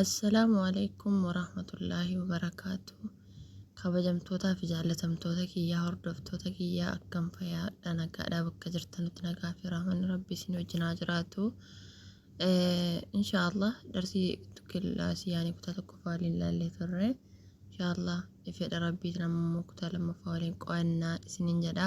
Assalaamu Aleykum Warahmatullaahi Wabarakaatuh Kabajamtootaa fi jaallatamtoota kiyyaa hordoftoota kiyyaa akkam fayaadha nagaadhaa bakka jirtanutti nagaa fi rahmanni rabbi isin wajjin haa jiraatu inshaallah darsii kilaasii yaanii kutaa tokkoffaa waliin ilaallee turre inshaallah fedha rabbiitiin ammoo kutaa lammaffaa waliin qo'annaa isinin jedha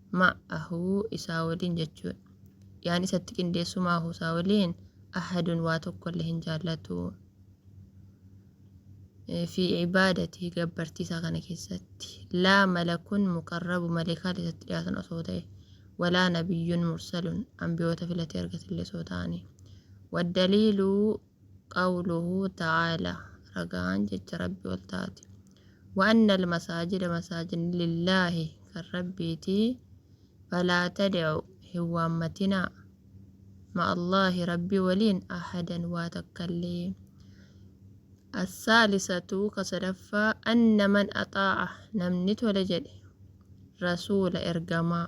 ma'ahu isaa waliin jechuudha. Yaan isatti qindeessu ma'ahu isaa waliin ahadun waa tokkollee hin jaallatu. Fi ibaadati gabbartii isaa kana keessatti. Laa malakun muqarrabu maleekaan isatti dhiyaatan osoo ta'e. Walaa nabiyyun mursalun ambiyoota filatee argatillee osoo ta'anii. Waddaliiluu Qawluhu ta'aala, Ragaan jecha Rabbi ol taate. Wa anna al-masaajida masaajidni lillaahi kan Rabbiiti, falaa tad'u hin waammatinaa, ma'allaahi Rabbi waliin ahadan waa takkallee. As-saalisatu ka sadaffaa anna man axaa'a namni tole jedhe rasuula ergamaa.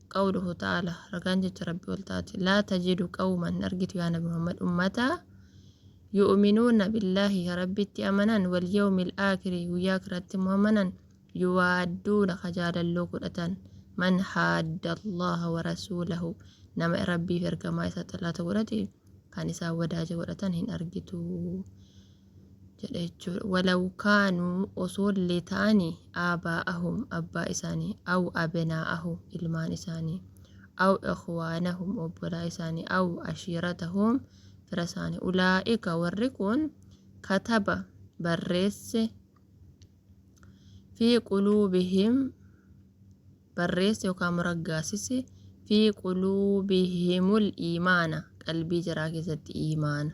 Qawluhu ta'aala, ragaan jecha Rabbi ol ta'aati. Laa tajidu qawman, hin argitu yaa Nabi Muhammad ummata yu'minuuna billaahi ka Rabbitti amanan wal yawmil aakiri guyyaa akhiratti immoo amanan yuwaadduuna ka jaalalloo godhatan man haadda Allaha wa rasuulahu nama Rabbiif ergamaa isaa xalaata godhate kan isaan wadaaja godhatan hin argitu. jedhe jechuudha. Walaw kaanuu osoo illee ta'ani aabaa'ahum abbaa isaanii aw abnaa'ahum ilmaan isaanii aw ikhwaanahum obbolaa isaanii aw ashiiratahum fira isaanii ulaa'ika warri kun kataba barreesse fi quluubihim barreesse yookaan muraggaasise fi quluubihimul iimaana qalbii jaraa keessatti iimaana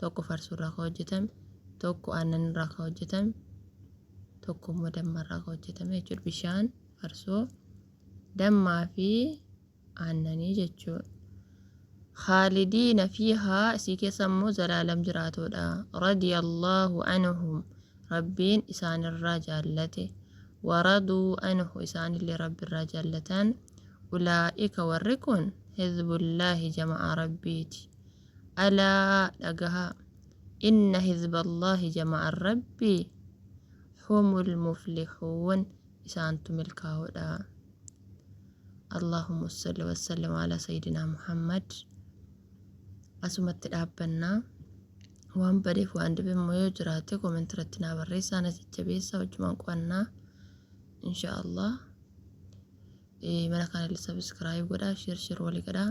tokko farsoo irraa kan hojjetame, tokko aannan irraa kan hojjetame, tokko immoo damma irraa kan hojjetame jechuudha. Bishaan, farsoo, dammaa fi aannanii jechuudha. Khaalidiina fiihaa isii keessa immoo zalaalam jiraatoodha. Radiyallaahu anhum rabbiin isaanirraa jaallate. Waraduu anhu isaanillee rabbirraa jaallatan. Ulaa'ika warri kun hizbullaahi jama'aa rabbiiti. Alaa dhagahaa Inna hizballaahi jama'an Rabbii humul muflihuun isaantu milkaahoodha. Allaahumma salli wa sallim ala sayyidinaa Muhammad. Asumatti dhaabbannaa. Waan badeef waan dibe immoo yoo jiraate comment irratti naa barreessaa na jajjabeessaa wajjumaan qo'annaa. Insha Allah. Eh, mana kana subscribe godhaa, share share walii godhaa.